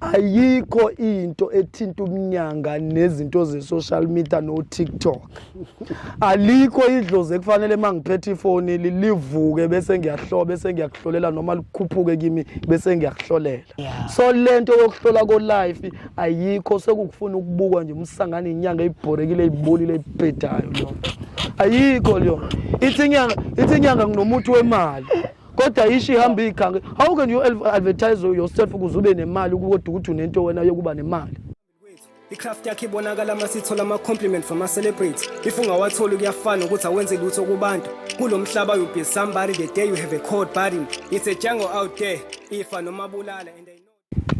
ayikho into ethinta umnyanga nezinto ze-social media no-tiktok alikho idlozi ekufanele uma ngiphethe ifoni livuke bese ngiyahlola bese ngiyakuhlolela noma likhuphuke kimi bese ngiyakuhlolela so le nto yokuhlola ko-life ayikho sekukufuna ukubukwa nje umsangane inyanga eyibhorekile iyibolile eyibhedayo loo nto ayikho leyo ithi inyanga ithi inyanga nginomuthi wemali kodwa ishi ihamba iyikhange how can you advertise yourself ukuze ube nemali kodwa ukuthi unento wena yokuba nemali icraft yakhe ibonakala uma sithola ama-compliment from ama-celebrity if ungawatholi kuyafana ukuthi awenze lutho kubantu kulo mhlaba you be somebody the day you have a cold burden it's a jungle out there ifa noma bulala and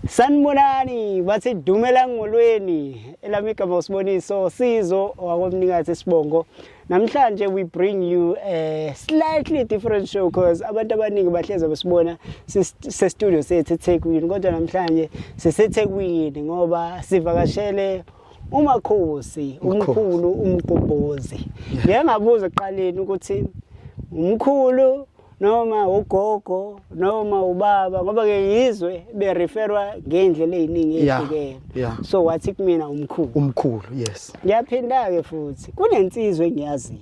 Sanibonani bathi dumela ngolweni elami igama usiboniso sizo wakomnikazi sibongo namhlanje we bring you a slightly different show because abantu abaningi bahleze besibona se studio sethu eThekwini kodwa namhlanje siseThekwini ngoba sivakashele umakhosi umkhulu umgobhozi ngiyangabuza eqaleni ukuthi umkhulu noma ugogo noma ubaba ngoba ke yizwe be referwa ngendlela eziningi ezihlukene yeah. so wathi kumina umkhulu umkhulu yes ngiyaphinda ke futhi kunensizwe engiyaziyo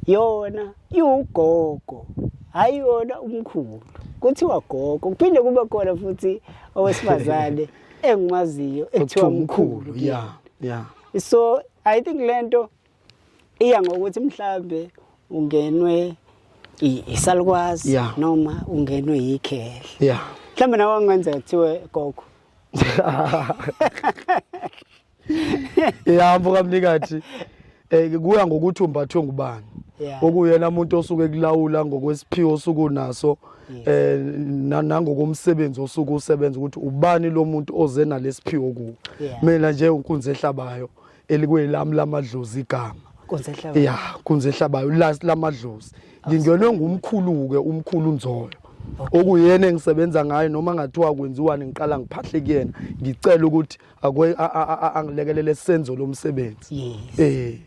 yona iwugogo hayi yona umkhulu kuthiwa gogo kuphinde kube khona futhi owesifazane engimaziyo ekuthiwa mkhulu yeah yeah so i think lento iya ngokuthi mhlambe ungenwe isalukwazi yeah. noma ungenwe yikhehla yeah. mhlambe nawe angenzeka kuthiwe gogo ihambo kamnikathi eh kuya ngokuthi umbathwe ngubani okuyena umuntu osuke kulawula ngokwesiphiwo osuku naso eh nangokomsebenzi osuku usebenza ukuthi ubani lo muntu oze nalesiphiwo kuwo mina nje unkunzi ehlabayo elikwelami lamadlozi igama kunzehlabayo ya kunzehlabayo last lamadlozi ngingenwe ngumkhulu-ke umkhulu nzoyo okuyena engisebenza ngayo noma ngathiwa kwenziwani ngiqala ngiphahle kuyena ngicela ukuthi angilekelele senzo lomsebenzi yes. eh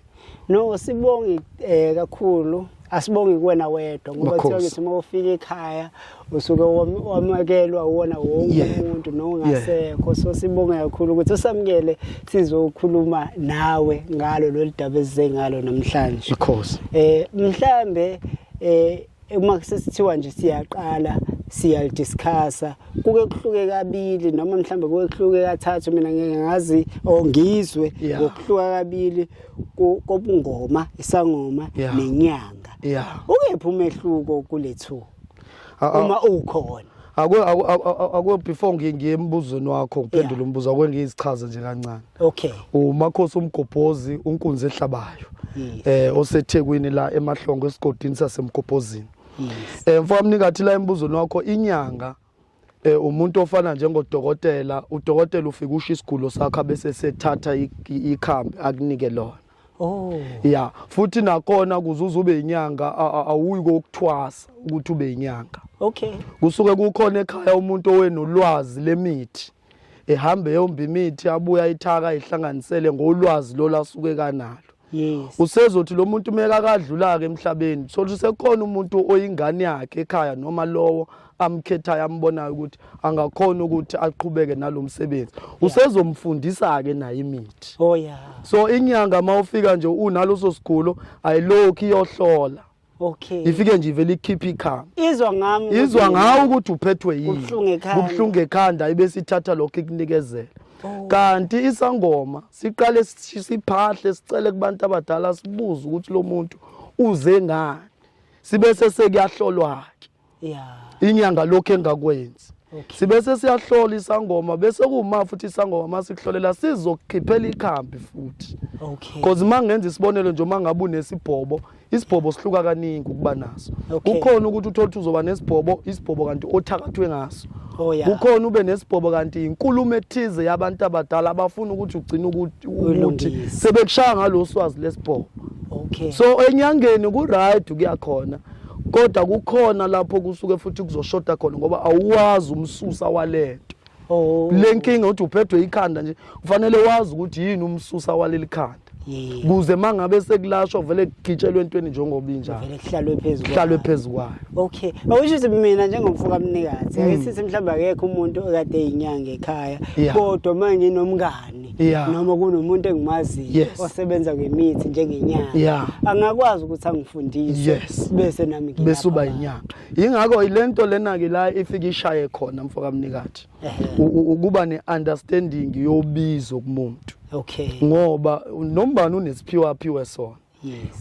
no sibonge eh, kakhulu asibongi kuwena wedwa ngoba kuthiwa ngithi uma ufika ekhaya usuke wamukelwa uwona wonke umuntu nongasekho so sibonge kakhulu ukuthi usamukele sizokhuluma nawe ngalo lolu daba esize ngalo namhlanje ikhosi eh mhlambe eh uma kusithiwa nje siyaqala siyalidiscussa kuke kuhluke kabili noma mhlambe kuke kuhluke kathathu mina ngeke ngazi or ngizwe ngokuhluka kabili kobungoma isangoma yeah. nenyanga yeah. ukephi umehluko kule two uma ukhona akwe before ngiye embuzweni wakho ngiphendule umbuzo akwe ngiyizichaza nje kancane okay umakhosi umgobhozi unkunzi ehlabayo eh osethekwini la emahlongo esigodini sasemgobhozini eh mfowamnikathi la embuzweni wakho inyanga eh umuntu ofana njengodokotela udokotela ufika usho isigulo sakhe bese sethatha ikhambi akunike lona Oh. Yeah, futhi nakona kuzuza ube inyanga awuyi kokuthwasa ukuthi ube inyanga. Okay. Kusuke kukhona ekhaya umuntu owenolwazi lemithi. ehambe eyomba imithi abuya ithaka ayihlanganisele ngolwazi lolu asuke kanalo yes usezothi lo muntu meka akadlula-ke emhlabeni sothi sekhona umuntu oyingane yakhe ekhaya noma lowo amkhethayo ambonayo ukuthi angakhona ukuthi aqhubeke nalo msebenzi usezomfundisa-ke naye imithi oh yeah so inyanga uma ufika nje unaloso sigulo ayilokhu iyohlola Okay. Ifike nje ivele ikhipha ikhama. Izwa ngami. Izwa ngawe ukuthi uphethwe yini. Ubhlungu ekhanda. Ubhlungu ekhanda ibesithatha lokho ikunikezela. Oh. Kanti isangoma siqale siphahle sicele kubantu abadala sibuze ukuthi lo muntu uze ngani. Sibe sesekuyahlolwa ke. inyanga lokhu engakwenzi sibe sesiyahlola isangoma bese kuwuma futhi isangoma masikuhlolela sizokukhiphela ikhambi futhi because uma ngenza isibonelo nje uma ngabe unesibhobo isibhobo sihluka kaningi ukuba naso kukhona ukuthi uthole ukuthi uzoba nesibhobo isibhobo kanti othakathwe ngaso oh, kukhona ube nesibhobo kanti inkulumo ethize yabantu abadala abafuna ukuthi ugcine ukuthi sebekushaya ngalo swazi lesibhobo so enyangeni ku-right kuyakhona kodwa kukhona lapho kusuke futhi kuzoshoda khona ngoba awuwazi umsusa walento oh. le nkinga ukuthi uphethwe ikhanda nje kufanele wazi ukuthi yini umsusa waleli khanda kuze mangabe sekulashwa vele kugitshelwe entweni njengoba injalo vele kuhlalwe phezulu kuhlalwe phezulu kwayo okay awusho ukuthi mina njengomfo kamnikazi hmm. ayisithi mhlawumbe akekho umuntu okade inyanga ekhaya kodwa manje nomngani yeah. noma kunomuntu engimaziyo yes. osebenza ngemithi njengenyanga yeah. angakwazi ukuthi angifundise yes. bese nami bese uba inyanga yingakho ilento lena ke la ifika ishaye khona mfoka mnikathi ukuba ne understanding yobizo kumuntu okay ngoba nombani unesiphiwa aphiwe sona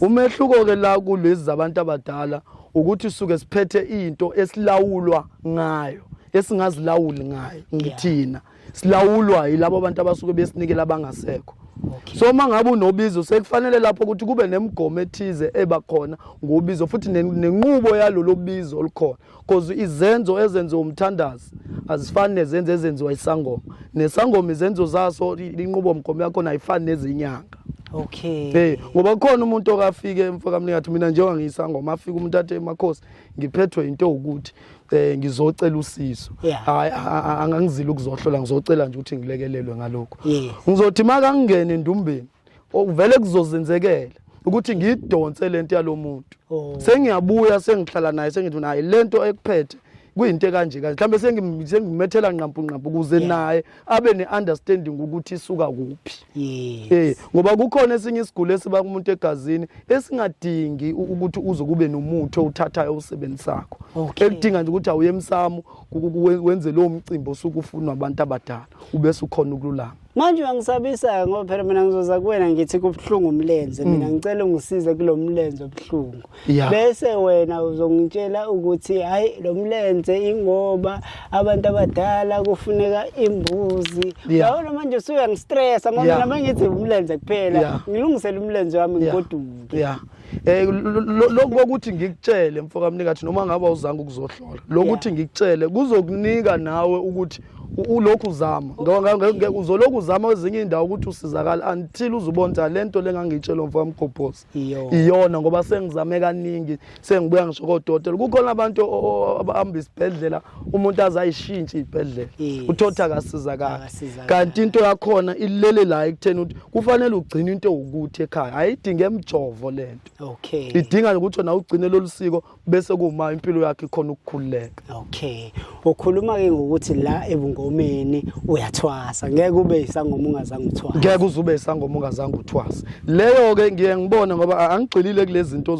umehluko ke la kulezi zabantu abadala ukuthi suke siphethe into esilawulwa ngayo esingazilawuli ngayo ngithina silawulwa yilabo abantu abasuke besinikela abangasekho Okay. So uma ngabe unobizo sekufanele lapho ukuthi kube nemigomo ethize eba khona ngobizo futhi nenqubo yalolo bizo olukhona cause izenzo ezenziwa umthandazi azifani nezenzo ezenziwa isangoma nesangoma izenzo zaso inqubo mgomo yakhona ayifani nezinyanga okay hey ngoba kukhona umuntu okafike mfokamningathi mina njengoba ngiyisangoma afika umuntu athe emakhosi ngiphethwe into ukuthi eh ngizocela usizo hayi angangizile ukuzohlola ngizocela nje ukuthi ngilekelelwe ngalokho ngizothi makangingene endumbeni okuvele kuzozenzekela ukuthi ngidonse lento yalomuntu oh. sengiyabuya sengihlala naye sengithi naye lento ekuphethe kuyinto ekanje kanje mhlambe sengimethela nqampu nqampu kuze naye abe neunderstanding ukuthi isuka kuphi yes eh ngoba kukhona esinye isigulo esiba kumuntu egazini esingadingi ukuthi uze kube nomuthi owuthathayo usebenzisakho ekudinga nje ukuthi awuye emsamo wenze lo mcimbi osukufunwa abantu abadala ubese ukhona ukululama manje uyangisabisa-ke ngoba phela mina ngizoza kuwena ngithi kubuhlungu umlenze mm. mina ngicela ungisize kulo mlenze obuhlungu bese wena uzongitshela ukuthi hhayi lo mlenze ingoba abantu abadala kufuneka imbuzi yabona manje usuyangistressa ngoba mina mangithi umlenze kuphela ngilungisele umlenze wami ngigoduke Eh lokho kokuthi ngikutshele mfoka mnikathi noma ngabe awuzange ukuzohlola. Lokuthi ngikutshele kuzokunika nawe ukuthi ulokhu uzama. Ngoba uzolokhu uzama ezinye indawo ukuthi usizakala until uzubona lento lengangitshelwa mfoka mgobhozi. Iyona ngoba sengizame kaningi sengibuya ngisho kodokotela. Kukhona abantu abahamba isibhedlela umuntu azayishintshe ibhedlela uthotha akasizakala kanti into yakhona ilele la ekutheni ukuthi kufanele ugcine into ukuthi ekhaya ayidinge emjovo lento okay idinga ukuthi wena ugcine lolusiko bese kuma impilo yakhe khona ukukhululeka okay ukhuluma ke ngokuthi la ebungomeni uyathwasa ngeke ube isangoma ungazange uthwasa ngeke uzube isangoma ungazange uthwasa leyo ke ngiye ngibone ngoba angigxilile kulezi zinto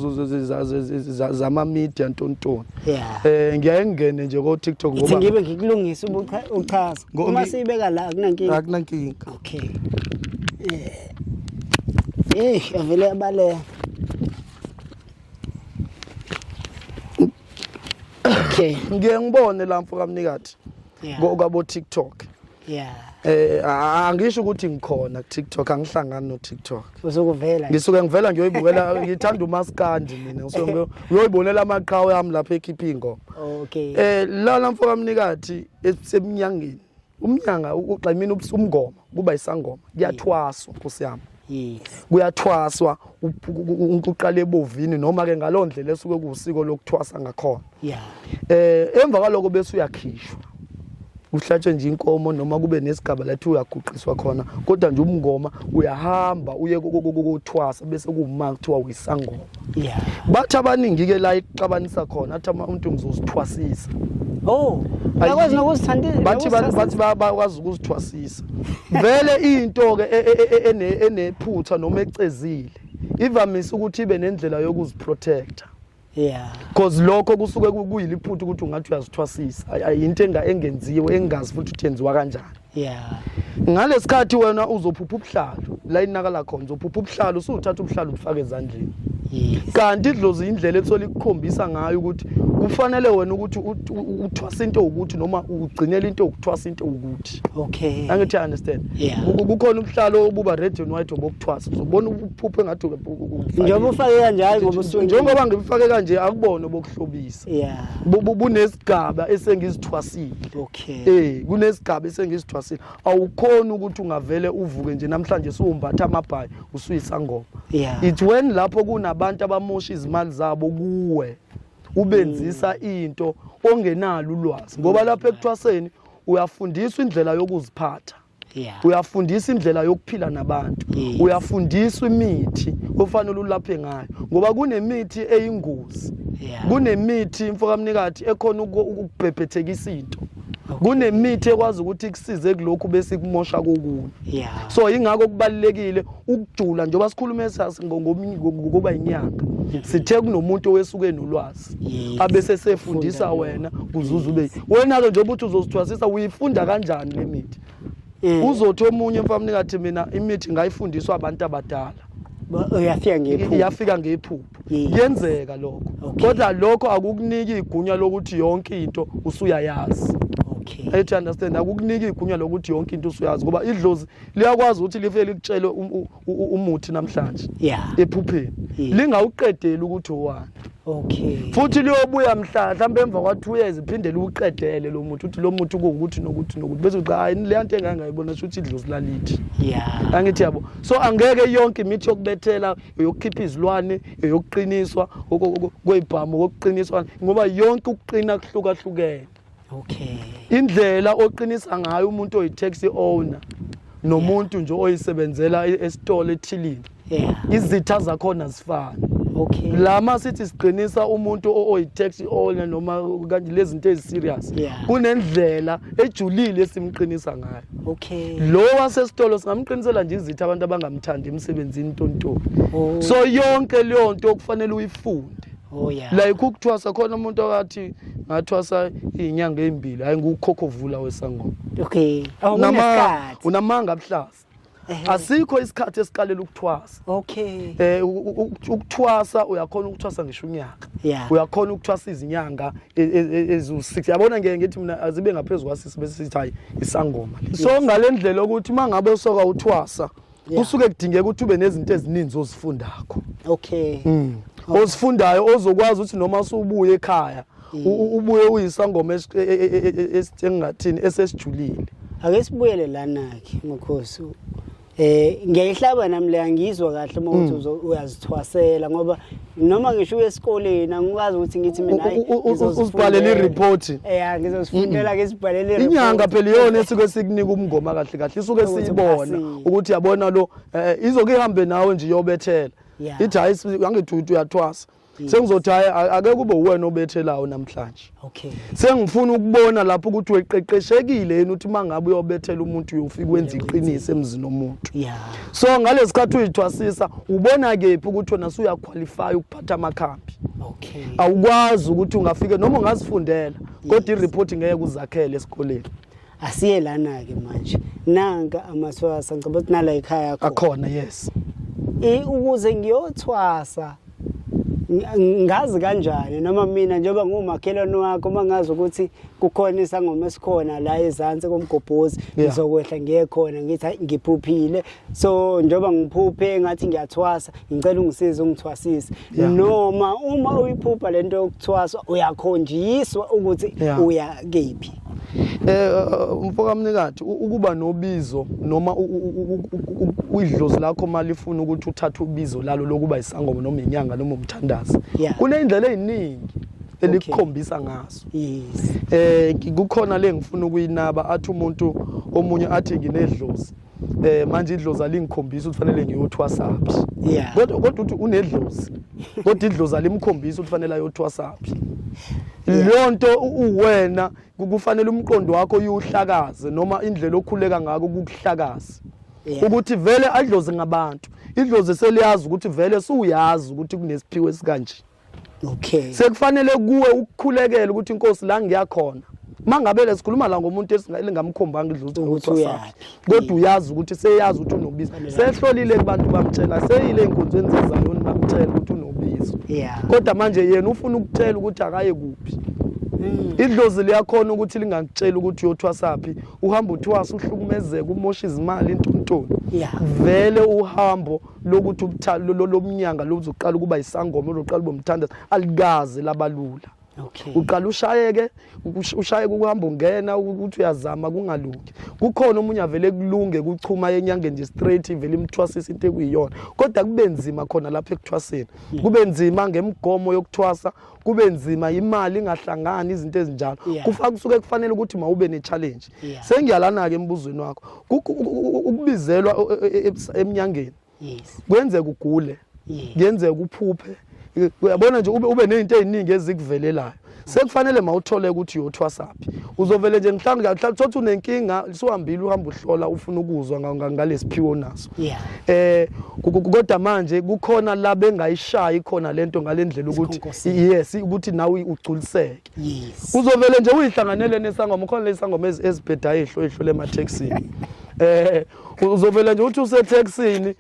zama media ntontoni Yeah. Eh ngiyaye ngingene nje ko TikTok Ngithi ngoba ngibe ngikulungisa ubucha- uchaza. Ngo- Uma ngi- siyibeka la akunankinga. akunankinga. Okay. Eh. Eh, avele abaleka. Okay. Ngiye ngibone la mfo kamnikati Yeah. ko kwabo TikTok. Yeah. Eh a- angisho ukuthi ngikhona ku TikTok angihlangani no TikTok. Uzokuvela. Ngisuke ngivela ngiyoyibukela ngithanda umaskandi mina ngisuke ngiyo- ngiyoyibonela amaqhawe ami lapha ekhipha ingoma. Okay. Eh lana mfoka mnikathi esemnyangeni. Umnyanga ugximina ubusumngoma kuba isangoma kuyathwaswa nkosi yami. kuyathwaswa uqala ebovini noma ke ngaloo ndlela esuke kuwusiko lokuthwasa ngakhona yeah. eh emva kwaloko bese uyakhishwa kuhlatshwe nje inkomo noma kube nesigaba lathi uyaguqiswa khona kodwa nje umngoma uyahamba uye kokuthwasa bese kuwuma kuthiwa uyisangoma yeah bathi abaningi ke la ixabanisa khona athi umuntu ngizosithwasisa oh Bakwazi nokuzithandela. Bathi bathi bakwazi ukuzithwasisa. Vele into ke e- e- e- enephutha noma ecezile. Ivamise ukuthi ibe nendlela yokuziprotector. Yeah. Because lokho kusuke kuyiliphutha ukuthi ungathi uyazithwasisa. Ayinto engenziwe engazi futhi uthenziwa kanjani. yeah ngalesikhathi wena uzophupha ubuhlalo la inakala khona uzophupha ubuhlalo usuthatha ubuhlalo ubufake ezandleni yes kanti idlozi indlela ethola ikukhombisa ngayo ukuthi kufanele wena ukuthi uthwasa into ukuthi noma ugcinele into ukuthwasa into ukuthi okay angithi understand yeah. kukhona ubuhlalo obuba red and white obokuthwasa uzobona uphuphe ngathi njengoba ufake kanjalo ngoba usuke njengoba ngibufake kanje akubona obokuhlobisa yeah bunesigaba esengizithwasile okay Ken. Eh kunesigaba esengisithwasile. Awukhona ukuthi ungavele uvuke nje namhlanje siwumbatha amabhayi usuyisangoma. Yeah. It's when lapho kunabantu abamosha izimali zabo kuwe ubenzisa mm. into ongenalo ulwazi ngoba lapha ekuthwaseni uyafundiswa indlela yokuziphatha. yeah. uyafundisa indlela yokuphila nabantu yes. uyafundiswa imithi ofanele ulaphe ngayo ngoba kunemithi eyingozi yeah. kunemithi mfokamnikati ekhona ukubhebhethekisa into kunemithi ekwazi ukuthi kusize kulokhu bese kumosha kokunye yeah. so ingakho kubalekile ukujula njengoba sikhulume ngokuba inyanga mm-hmm. sithe kunomuntu owesuke nolwazi abese sefundisa wena kuzuza ube wena-ke njengoba uthi uzosithwasisa uyifunda kanjani le mithi mm. uzothi omunye mfamni ngathi mina imithi ngayifundiswa abantu abadala uyafika ngephupho iyafika ngephupho kuyenzeka lokho kodwa lokho akukuniki igunya lokuthi yonke into usuyayazi okay ayi to understand akukuniki igunya lokuthi yonke into usuyazi ngoba idlozi liyakwazi ukuthi lifike likutshele umuthi namhlanje yeah. ephupheni yeah. lingawuqedeli ukuthi owani okay futhi liyobuya mhla mhlawumbe emva kwa 2 years iphinde liwuqedele lo muthi uthi lo muthi ukuthi nokuthi nokuthi bese uthi hayi le nto engangayibona sho ukuthi idlozi lalithi yeah angithi yabo so angeke yonke imithi yokubethela yokukhipha izilwane yokuqiniswa kwezibhamu kokuqiniswa ngoba yonke ukuqina kuhlukahlukene okay indlela oqinisa ngayo umuntu oyi taxi owner nomuntu nje oyisebenzela e-, esitolo ethilini yeah izitha zakhona zifana okay lama sithi siqinisa umuntu oyi taxi owner noma kanti lezinto eziserious yeah. kunendlela ejulile esimqinisa ngayo okay lo wasesitolo singamqinisela nje izitha abantu abangamthandi emsebenzini tonto oh. so yonke leyo nto okufanele uyifunde Oh, like ukuthwasa khona umuntu akathi ngathwasa izinyanga ezimbili hayi ngukukhokovula wesangoma okay oh, unamanga abuhlaza asikho isikhathi esiqalela ukuthwasa okay eh ukuthwasa uyakhona ukuthwasa ngisho unyaka uyakhona ukuthwasa izinyanga e, e, e, ezu6 yabona ngeke ngithi mina azibe ngaphezulu kwasisi bese sithi hayi isangoma so ngalendlela ukuthi mangabe soka uthwasa kusuke kudingeka ukuthi ube nezinto ezininzi ozifundakho okay mm. okay. ozifundayo ozokwazi ukuthi noma usubuye ekhaya mm. ubuye uyisangoma e, e, e, engathini esesijulile ake sibuyele lana ke mkhosi eh ngiyayihlaba nami le angizwa kahle uma uthi mm. uyazithwasela ngoba noma ngisho uye esikoleni angikwazi ukuthi ngithi mina hayi uzibhalele i-report ya ngizozifundela ke izibhalele i-report inyanga phela iyona esuke esikunika umngoma kahle kahle isuke siyibona ukuthi yabona lo eh, eh, izoke ihambe nawe nje iyobethela ithi hayi angithi uyathwasa sengizothi hayi ake kube uwena obethelayo namhlanje Okay. Sengifuna ukubona lapho ukuthi weqeqeshekile yena uthi mangabe uyobethela umuntu uyofika wenza iqiniso emzini omuntu. Yeah. So ngalesikhathi uyithwasisa ubona kephi ukuthi wena usuya qualify ukuphatha amakhambi. Okay. Awukwazi ukuthi ungafike noma ungazifundela kodwa i report ngeke uzakhele esikoleni. asiye lana-ke manje nanka amaswasa ngicaba ukuthi nala yikhaya akhona yes ukuze ngiyothwasa ngazi kanjani noma mina njengoba ngumakhelwane wakho uma ngazi ukuthi kukhona isangoma esikhona la ezansi komgobhozi ngizokwehla ngiye khona ngithi hayi ngiphuphile so njengoba ngiphuphe ngathi ngiyathwasa ngicela ungisize ungithwasise yeah. noma uma uyiphupha lento yokuthwaswa uyakhonjiswa ukuthi yeah. uya kephi eh umfoka mnikati ukuba nobizo noma idlozi lakho mali ifuna ukuthi uthathe ubizo lalo lokuba isangoma noma inyanga noma umthandazi kunendlela eziningi elikukhombisa ngaso yes eh kukhona lengifuna ukuyinaba athi umuntu omunye athi nginedlozi eh manje idlozi alingikhombisa ukuthi fanele ngiyothwasaphi yeah kodwa kodwa uthi unedlozi kodwa idlozi alimkhombisa ukuthi fanele ayothwasaphi leyo nto uwena kufanele umqondo wakho uyuhlakaze noma indlela okhuleka ngako kukuhlakaze ukuthi vele adlozi ngabantu idlozi seliyazi ukuthi vele suyazi ukuthi kunesiphiwe esikanje okay sekufanele kuwe ukukhulekela ukuthi inkosi la ngiyakhona mangabele sikhuluma la ngomuntu elingamkhombanga idlutho ukuthi uyaphi kodwa uyazi ukuthi seyazi ukuthi unobizo sehlolile kubantu bamtshela seyile enkonzweni zezayoni bamtshela ukuthi unobizo kodwa manje yena ufuna ukutshela ukuthi akaye kuphi hmm. idlozi liyakhona ukuthi lingakutshela ukuthi uyothwasaphi uhamba uthwasa uhlukumezeka umosha izimali intuntoni vele uhambo lokuthi lomnyanga lozoqala ukuba isangoma oloqala ube umthandazo alikaze labalula Okay. Uqala ushayeke ushayeke ukuhamba ungena ukuthi uyazama kungalungi. Kukhona omunye avele kulunge kuchuma yenyanga nje straight ivele imthwasisa into ekuyiyona. Kodwa kube nzima khona lapha ekuthwaseni. Kube nzima ngemgomo yokuthwasa kube nzima imali ingahlangani izinto ezinjalo yeah. kufa kusuke kufanele ukuthi mawube ne challenge yeah. sengiyalana ke embuzweni wakho ukubizelwa e, e, e, emnyangeni yes. kwenzeka ugule yes. kuyenzeka uphuphe uyabona nje ube, ube nezinto eziningi ezikuvelelayo sekufanele mawuthole ukuthi uyothwasaphi uzovele nje mhlawumbe mhlawumbe thothi unenkinga siwambile uhamba uhlola ufuna ukuzwa ngalesiphiwo naso yeah eh kodwa manje kukhona la bengayishayi khona lento ngalendlela ukuthi yes ukuthi nawe ugculiseke yes uzovele nje uyihlanganele nesangoma khona lesangoma ezibhedayo ehlo ehlo le mathexini eh uzovele nje uthi use taxini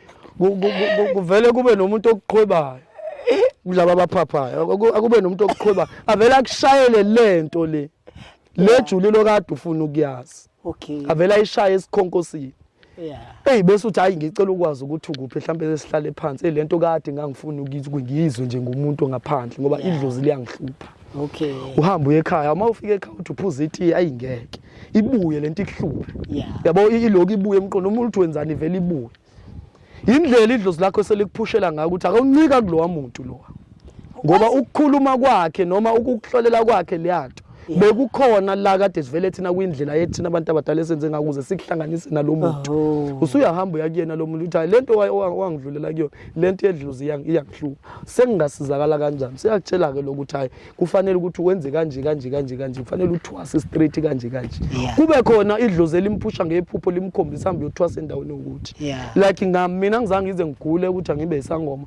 kuvele kube nomuntu okuqhwebayo kulaba abaphaphayo akube nomuntu okuqhweba avele akushayele lento le lejulilo kade ufuna ukuyazi okay avele ayishaye esikhonkosini eyi bese uthi hhayi ngicela ukwazi ukuthi ukuphi mhlawumbe sesihlale phansi eyi le nto kade ngangifuni ngiyizwe nje ngumuntu ngaphandle ngoba idlozi liyangihlupha okay uhamba uye ekhaya uma ufika ekhaya uthi uphuza itiye ayi ngeke ibuye le nto ikuhluphe yabo iloku ibuye emqondo umuntu wenzani ivele ibuye indlela idlozi lakho selikuphushela ngayo ukuthi akawuncika kulowa muntu lowa ngoba ukukhuluma kwakhe noma ukukuhlolela kwakhe leyanto bekukhona la kade sivele thina kwindlela yethina abantu abadala esenze ngakuze sikuhlanganise nalo muntu oh. usuyahamba uyakuyena lo muntu uthi lento wangidlulela kuyona lento yedluzi iyangihlupha sengingasizakala kanjani siyakutshela ke lokuthi hayi kufanele ukuthi wenze kanje kanje kanje kanje kufanele uthwase straight kanje kanje Yeah. kube khona idlozi elimphusha ngephupho limkhombisa hambe uyothwasa endaweni ukuthi Yeah. like nga mina angizange ngize ngigule ukuthi angibe isangoma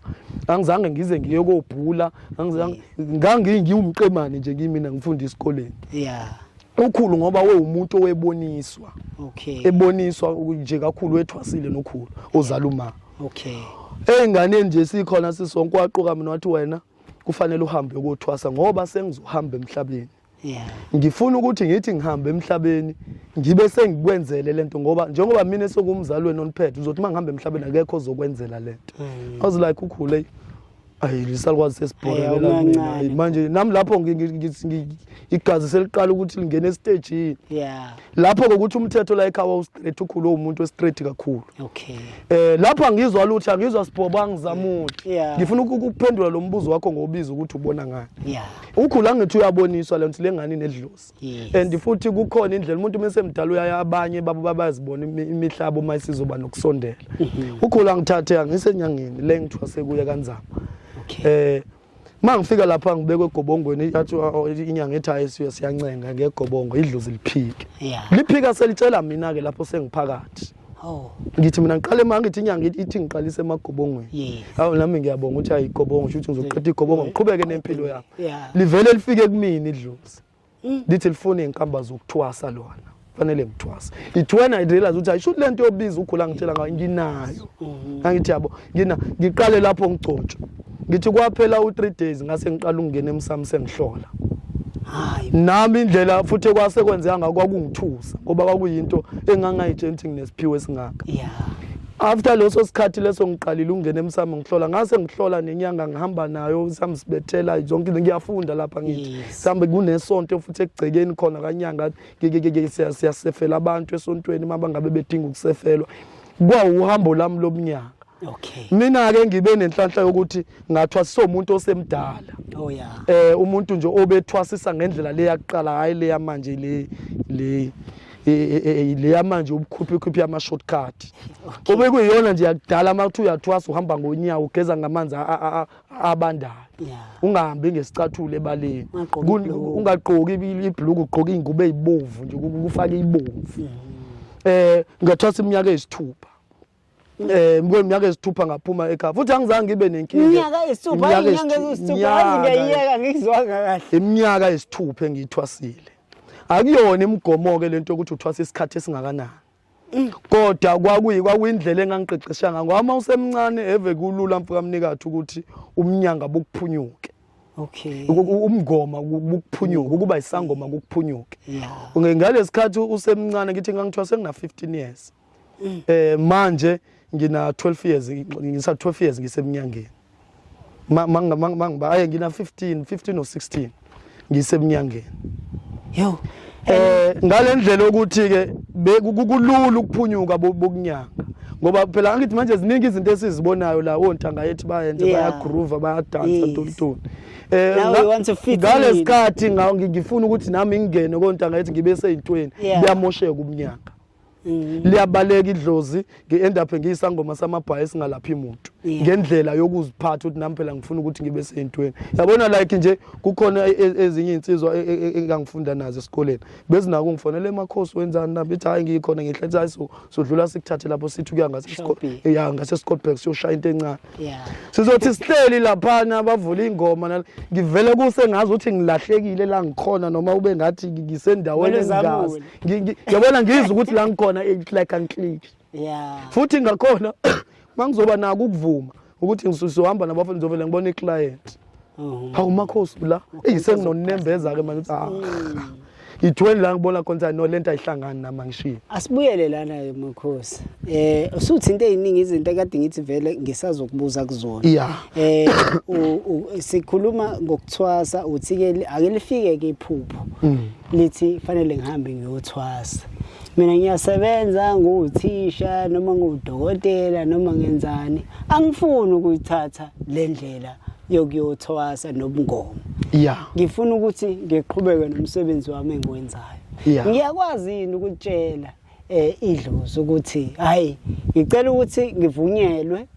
angizange ngize ngiye kobhula angizange ngangi ngiwumqemane nje kimina ngifunda isikoleni yeah ukhulu ngoba wewumuntu oweboniswa okay eboniswa uku- nje kakhulu wethwasile nokhulu ozala uma okay ey'nganeni nje sikhona sisonke waqoka mina wathi wena kufanele uhambe ukothwasa ngoba sengizohamba emhlabeni yeah ngifuna ukuthi ngithi ngihamba emhlabeni ngibe sengikwenzele lento ngoba njengoba mina sokumzali wena oniphethe uzothi mangihamba emhlabeni akekho ozokwenzela lento mm. i was like ukhule ayi lisalukwazi sesibhorekela mina manje nami lapho igazi seliqala ukuthi lingene esitejini yeah lapho kokuthi umthetho la ekhaya ustraight ukhulu umuntu westraight kakhulu okay eh lapha ngizwa lutho angizwa sibhoba ngizamuthi yeah. ngifuna ukuphendula lo mbuzo wakho ngobiza ukuthi ubona ngani yeah ukhulu angithi uyaboniswa lento lengani nedlozi yes. and futhi kukhona indlela umuntu mase mdala uyaya abanye babo babazibona imihlabo uma isizoba nokusondela mhm. ukhulu angithathe angisenyangeni le ngithwase kuye kanzama okay eh uma ngifika lapha ngibekwe egobongweni yathi inyanga ethi ayisuye siyancenga ngegobongo idlozi liphike liphika selitshela mina-ke lapho sengiphakathi Oh. ngithi mina ngiqale ma ngithi inyanga ithi ngiqalise emagobongweni awu nami ngiyabonga ukuthi ayigobongo shuthi ngizoqeda igobongo ngiqhubeke nempilo yami livele lifike kumina idlozi mm. lithi lifuna izinkamba zokuthwasa lona fanele ngithwasa it when i realize ukuthi ayisho lento yobiza ugula ngitshela ngayo nginayo mm-hmm. angithi yabo ngina ngiqale lapho ngigcotshwe ngithi kwaphela u3 days ngase ngiqala ukungena emsamo sengihlola hayi nami indlela futhi kwase kwenzeka ngakho kwakungithusa ngoba kwakuyinto engangayitshenti nginesiphiwe singaka yeah after leso sikhathi leso ngiqalile ukungena emsamo ngihlola ngase ngihlola nenyanga ngihamba nayo samsibethela zonke ngiyafunda lapha ngithi mhlawumbe kunesonto futhi ekugcekeni khona kanyanga siyasefela abantu esontweni uma bangabe bedinga ukusefelwa kwawuhambo lami lomnyaka okay mina ke ngibe nenhlanhla yokuthi ngathwa somuntu osemdala oh yeah eh umuntu nje obethwasisa ngendlela le yakuqala hayi le yamanje le le e, e, e, le yamanje ubukhuphi khuphi ama shortcut obekuyiyona nje yakudala uma uthi uyathwasa uhamba ngonyawo ugeza ngamanzi abandayo yeah. ungahambi ngesicathulo ebaleni ungagqoki ibhluku ugqoke iy'ngubo ey'bomvu nje kufake ibomvu mm. eh ngathwasa iminyaka eyisithupha eh mkweni minyaka ezithupha ngaphuma ekhaya futhi angizange ngibe nenkinga iminyaka ezithupha iminyaka ezithupha ngiyiyeka ngizwanga kahle iminyaka ezithupha engiyithwasile akuyona imigomo ke lento ukuthi uthwasa isikhathi esingakanani kodwa kwakuyi kwakuyindlela engangiqeqesha ngayo ngoba uma usemncane eve kulula mfukamnikathi ukuthi umnyanga bukuphunyuke okay umngoma bukuphunyuke ukuba isangoma kukuphunyuke ngalesikhathi usemncane ngithi ngangithiwa sengina 15 years mm. eh manje ngina 12 years ngisa 12 years ngisemnyangeni mangiba aye ngina 15 15 or 16 ngisemnyangeni yo eh ngalendlela ukuthi ke kulula ukuphunyuka bokunyanga ngoba phela angithi manje ziningi izinto esizibonayo la ontanga yethu bayenze bayagroove bayadansa tontoni eh ngalesikhathi ngifuna ukuthi nami ngingene kontanga yethu ngibe seyintweni kuyamosheka umnyaka Mm. liyabaleka idlozi ngi-end up ngiyisangoma samabhayi esingalaphi muntu ngendlela yokuziphatha ukuthi nami phela ngifuna ukuthi ngibe seyintweni yabona like nje kukhona e, e, ezinye iy'nsizwa e, engangifunda nazo esikoleni bezinako ngifonele emakhosi wenzani nami bethi hhayi ngiyikhona ngihle hayi sodlula sikuthathe lapho sithi ukuya ya ngasescotburg siyoshaya into encane sizothi sihleli laphana bavule iy'ngoma ngivele kuse ngazi ukuthi ngilahlekile la ngikhona noma ube ngathi ngisendaweni engazi yabona ngizwe ukuthi la ngikhona like angiclick yeah futhi ngakhona mangizoba nako ukuvuma ukuthi ngisuhamba nabafundi ngizovele ngibone iclient mhm. hawu makhosi la eyi senginonembeza-ke manje ukuthi ah mm. ngithweni la ngibona khona ukuthi no lento ayihlangani nami angishiye asibuyele lana makhosi eh usuthi into eziningi izinto ekade ngithi vele ngisazokubuza kuzona yeah. eh sikhuluma ngokuthwasa uthi ke ake lifike ke iphupho mm. lithi fanele ngihambe ngiyothwasa mina ngiyasebenza nguwuthisha noma nguwudokotela noma ngenzani angifuni ukuyithatha le ndlela yokuyothwasa nobungomo ya ngifuna ukuthi ngiqhubeke nomsebenzi wami engiwenzayo Ya. ngiyakwazi yini ukutshela eh idlozi ukuthi hayi ngicela ukuthi ngivunyelwe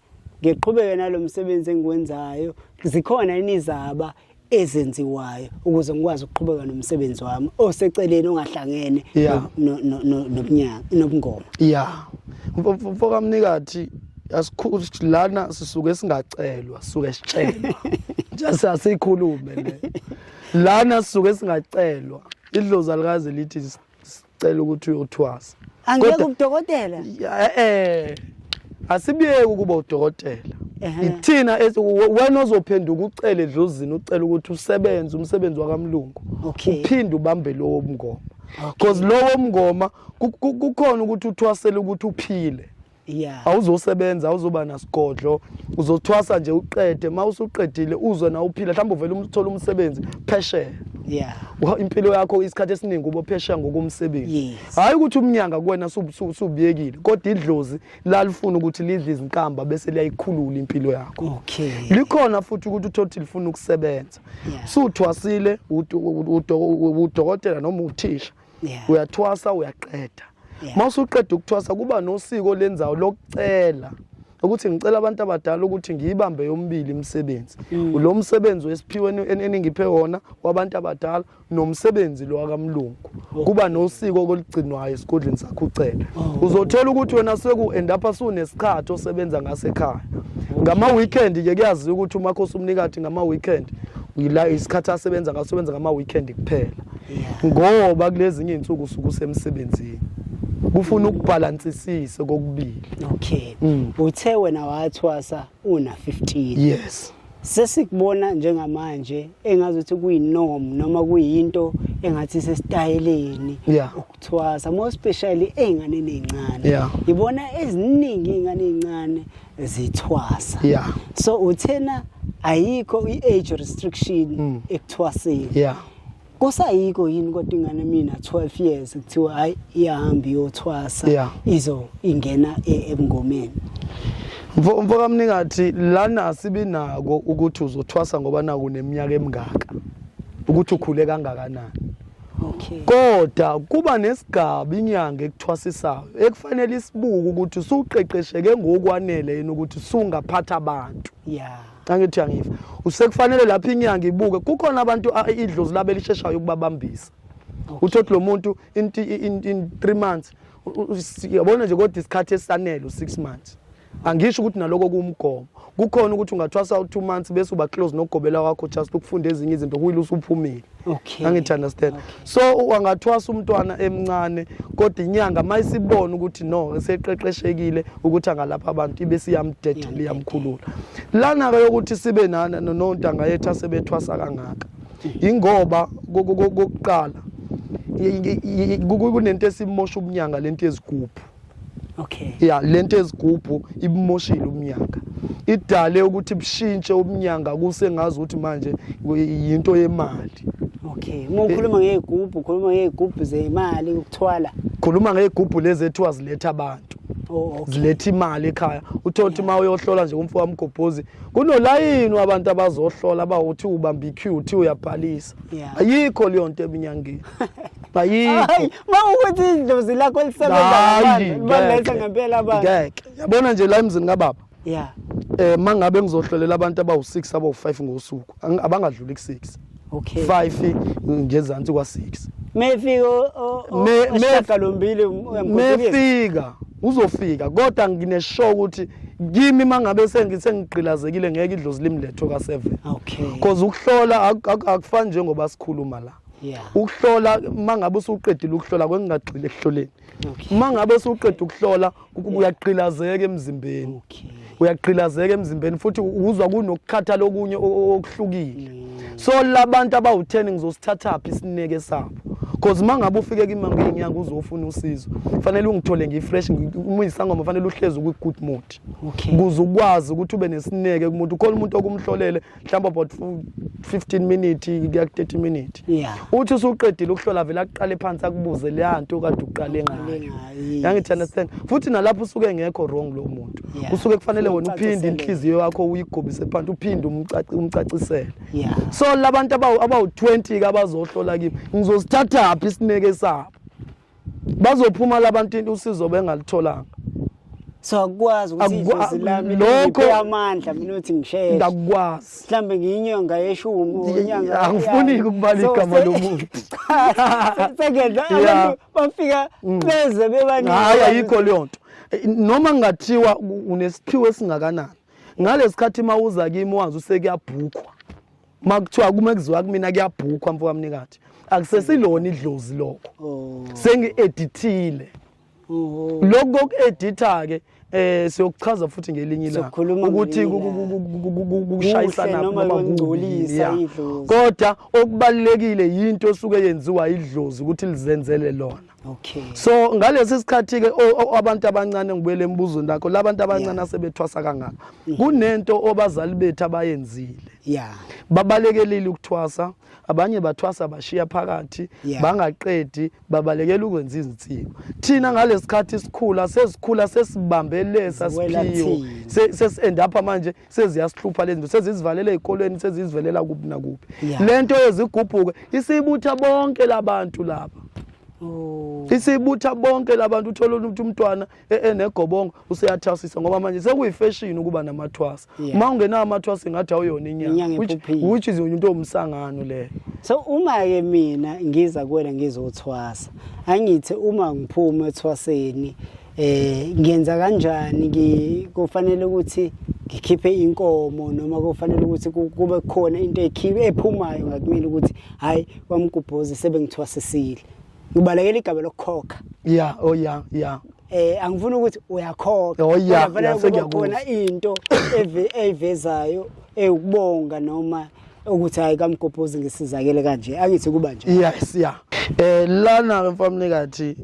ngiqhubeke nalomsebenzi engiwenzayo zikhona inizaba ezenziwayo ukuze ngikwazi ukuqhubeka nomsebenzi wami oseceleni ongahlangene Yeah. no- no- no- nobunyanga nobungoma ya mfokamnikathi asikhu- lana sisuke singacelwa sisuke sitshelwa just asikhulume le lana sisuke singacelwa idlozi alikaze lithi s- s- cela ukuthi uyothwasa angeke Kodwa- ubudokotela Ya- eh asibiyeke ukuba udokotela Ehhe. ithina esi- we- wena ozophenduka ucele edlozini ucela ukuthi usebenze umsebenzi wakamlungu Okay. uphinde ubambe lowo mngoma because lowo mngoma ku- ku- kukhona ukuthi uthwasele ukuthi uphile Yeah. awuzosebenza awuzoba nasigodlo uzothwasa nje uqede uma usuqedile uzwe na uphila mhlawumbe uvele um- uthole umsebenzi phesheya Yeah. Wa- impilo yakho isikhathi esiningi ubophesheya ngokomsebenzi Yes. hhayi ukuthi umnyanga kuwena su- su- subuyekile kodwa idlozi lalifuna ukuthi lidle izinkamba bese liyayikhulula impilo yakho Okay. likhona futhi ukuthi uthothi lifuna ukusebenza Yeah. suthwasile udo- udo- udokotela noma uthisha yeah. uyathwasa uyaqeda yeah. uma usuqeda ukuthwasa kuba nosiko olenzayo lokucela ukuthi ngicela abantu abadala ukuthi ngiyibambe yombili imisebenzi mm. lo msebenzi wesiphiwe eningiphe wona wabantu abadala nomsebenzi lo wakamlungu oh. kuba nosiko oligcinwayo esigodleni sakho ucela oh. uzothola ukuthi wena seku end up asunesikhathi osebenza ngasekhaya oh. ngama weekend ke kuyaziwa ukuthi umakhosi umnikati ngama weekend yila isikhathi asebenza ngasebenza ngama weekend kuphela ngoba kulezinye izinsuku usuku usemsebenzini kufuna ukubhalansisise kokubili okay mm. uthe wena wathwasa una 15 yes sesikubona njengamanje engazi ukuthi kuyinorm noma kuyinto engathi sesitayeleni ukuthwasa more especially eingane ezincane ngibona eziningi ingane ezincane zithwasa so uthena ayikho i-age restriction mm. ekuthwaseni kusayiko yini kodwa ingane mina 12 years kuthiwa hayi iyahamba iyothwasa yeah. izo ingena e, ebungomeni mfo mfo kamningathi lana sibinako ukuthi uzothwasa ngoba naku neminyaka emingaka ukuthi ukhule kangakanani okay kodwa kuba nesigaba inyanga ekuthwasisayo ekufanele isibuke ukuthi usuqeqesheke ngokwanele yini ukuthi sungaphatha abantu yeah angithi angiva usekufanele lapha inyanga ibuke kukhona abantu idlozi labe lisheshayo ukubabambisa uthothi lo muntu in 3 months yabona nje kodwa isikhathi esanele u6 months angisho ukuthi naloko kuwumgomo kukhona ukuthi ungathwasa u2 months bese uba close nogobela wakho just ukufunda ezinye izinto kuyile usuphumile okay angithi understand okay. so wangathwasa umntwana emncane kodwa inyanga mayisibona ukuthi no eseqeqeshekile ukuthi angalapha abantu ibe siyamdedela iyamkhulula lana ke yokuthi sibe nana nontanga yethu asebethwasa kangaka ingoba kokuqala kunento esimosha ubunyanga lento yezigubhu okay ya lento ezigubhu ibumoshile umnyaka idale ukuthi bushintshe umnyanga kusengazi ukuthi manje yinto yemali okay uma ukhuluma ngeyigubhu ukhuluma ngeyigubhu zemali ukuthwala khuluma ngeyigubhu lezi ethiwa ziletha abantu oh, okay. ziletha imali ekhaya uthole ukuthi uma uyohlola nje umfo wamgobhozi kunolayini wabantu abazohlola abawuthi ubamba iq uthi uyabhalisa Kristu yeah. Ayikho leyo nto eminyangeni ayikho mawukuthi idlozi lakho lisebenzabaletha ngempela abantu ngeke yabona nje la emzini kababa yeah eh mangabe ngizohlolela abantu abawu6 abawu5 ngosuku abangadluli ku6 okay 5 ngezansi kwa6 mefika oshagalombili mefika uzofika kodwa ngineshow ukuthi kimi mangabe sengigqilazekile ngeke idlozi limletho ka 7 okay because ukuhlola akufani njengoba sikhuluma la ukuhlola mangabe usuqedile ukuhlola kwengingagxile ekuhloleni mangabe usuqeda ukuhlola ukuba uyaqilazeka emzimbeni uyaqilazeka emzimbeni futhi uzwa kunokukhathala okunye okuhlukile so labantu abawu-10 ngizosithathaphi isineke sabo cause uma ngabe ufike kimi ngenyanga uzofuna usizo fanele ungithole ngifresh umuyisangoma fanele uhlezi kwi-good mood kuze ukwazi ukuthi ube nesineke kumuntu khona umuntu okumhlolele mhlawumbe about 15 minute kuya ku-30 minute uthi usuqedile ukuhlola vele akuqale phansi akubuze leya nto kade uqale ngayo yangithi understand futhi nalapho usuke ngekho wrong lo muntu yeah. usuke kufanele wena uphinde inhliziyo yakho uyigobise phansi uphinde umcacisele yeah. so labantu abawu-20 kabazohlola kimi ngizosithathaphi isineke sabo bazophuma labantu usizo bengalitholanga so akukwazi ukuthi lokho amandla mina uthi ngisheshe ngakukwazi mhlawumbe ngiyinyanga yeshumi angifuni ukubala igama lomuntu sekenza abantu bafika mm. beze bebaningi hayi ayikho leyo nto eh, noma ngingathiwa unesiphiwo esingakanani ngalesi khathi uma uza kimi wazi usekuyabhukhwa uma kuthiwa kume kuziwa kumina kuyabhukhwa mfowamnikati akusesilona idlozi lokho oh. sengi-edithile lokhu koku-editha ke eh siyokuchaza futhi ngelinye ilanga ukuthi kushayisana noma kungcolisa idlozi kodwa okubalekile yinto osuke yenziwa idlozi ukuthi lizenzele lona okay so ngalesi sikhathi ke abantu abancane ngibuyele embuzweni lakho labantu abancane asebethwasa kangaka mm-hmm. kunento obazali bethu abayenzile yeah babalekelile ukuthwasa abanye bathwasa bashiya phakathi yeah. bangaqedi babalekela ukwenza izinsiko thina ngalesikhathi sikhula sesikhula sesibambelesa siphiwo sesi-end up manje seziyasihlupha lezinto sezizivalela ezikolweni sezizivelela kuphi nakuphi yeah. lento yezigubhuke isibutha bonke labantu laba oh. isibutha bonke labantu uthola ukuthi umntwana enegobongo useyathasisa ngoba manje sekuyifashion ukuba namathwasa yeah. uma ungenawo amathwasa ingathi awuyona inyanga which, which is into ewumsangano leyo so uma-ke mina ngiza kuwena ngizothwasa angithi uma ngiphuma ethwaseni eh ngenza kanjani kufanele ukuthi ngikhiphe inkomo noma kufanele ukuthi kube khona into ekhiphe ephumayo ngakumina ukuthi hayi kwamgubhozi sebengithwasisile ubalekela igaba lokukhokha ya o oh, ya ya eh angifuni ukuthi uyakhokha oh, ya khona into evezayo ewukubonga noma ukuthi hayi kamgobhozi ngisizakele kanje angithi kuba nje yes ya eh lana ke mfamnikathi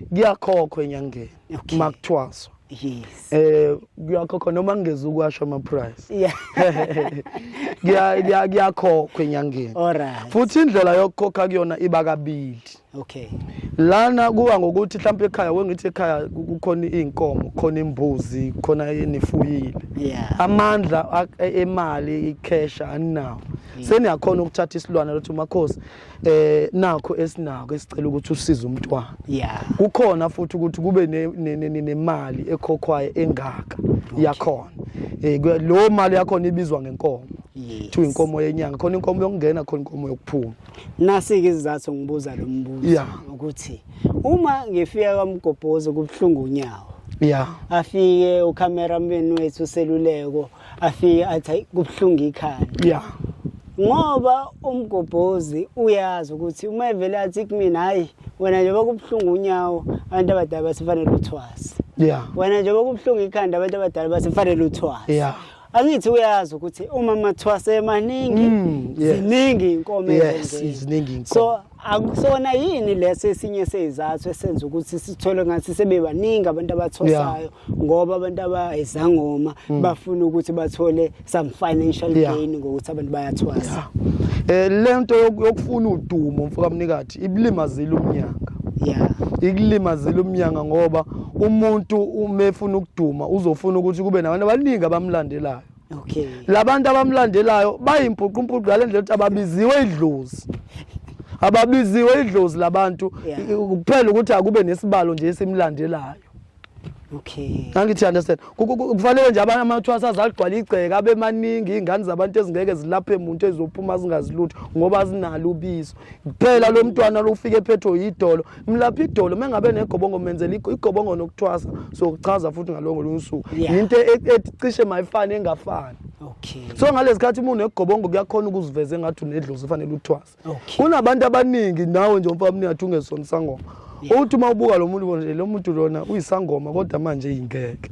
kuyakhokhwa enyangeni okay. makuthwaswa yes eh kuyakhokha noma ngingeza ukwasho ama price yeah kuya kuyakhokhwa enyangeni alright futhi indlela yokukhokha kuyona iba kabili okay lana kuwa ngokuthi mhlawumbe ekhaya wengithi ekhaya kukhona izinkomo khona imbuzi khona enifuyile yeah amandla e, emali icash aninawo seniyakhona ukuthatha isilwane lothi makhosi eh nakho esinako esicela ukuthi usize umntwana yeah kukhona futhi ukuthi kube nemali ekhokhwayo engaka yakhona eh lo mali yakhona ibizwa ngenkomo kuthiwa inkomo yenyanga khona inkomo yokungena khona inkomo yokuphuma nasi-ke izizathu ngibuza lo mbuzo ukuthi uma ngifika kwamgobhozi kubuhlungu unyawo ya afike ucameraman wethu useluleko afike athi hayi kubuhlungu ikhanda yeah ngoba umgobhozi uyazi ukuthi uma evele athi kumina hayi wena njengoba kubuhlungu unyawo abantu abadala basifanele uthwase yeah wena njengoba kubuhlungu ikhanda abantu abadala basifanele uthwase yeah angithi uyazi ukuthi uma mathwase emaningi mm, ziningi inkomo yes ziningi inkomo so akusona yini leso esinye sezizathu esenza ukuthi sithole ngathi sebebaningi abantu abathosayo ngoba abantu abayizangoma mm. bafuna ukuthi bathole some financial gain ngokuthi abantu bayathwasa eh lento yokufuna udumo mfoka mnikathi ibilimazile umnyanga yeah ikulimazile umnyanga ngoba umuntu umefuna ukuduma uzofuna ukuthi kube nabantu abaningi abamlandelayo okay labantu abamlandelayo bayimpuqumpuqu ngale ndlela ukuthi ababiziwe idlozi ababiziwe idlozi labantu kuphela ukuthi akube nesibalo nje esimlandelayo okay angithi understand kufanele nje abanye amathwasa azagcwala igceke abe maningi ingane zabantu ezingeke zilaphe umuntu ezophuma zingazilutho ngoba zinalo ubizo ngicela lo mntwana lofika ephethwe yidolo mlapha idolo mengabe negobongo menzela igobongo nokuthwasa sokuchaza futhi ngalongo lunsuku yinto e, e, ecishe mayifane engafani Okay. So ngalesikhathi umuntu negobongo kuyakhona ukuziveza engathi unedlozi fanele uthwase. Okay. Kunabantu abaningi nawe nje umfana mniyathu ungesona sangoma. Yeah. Uthi uma ubuka lo muntu bonje lo muntu lona uyisangoma kodwa manje ingeke.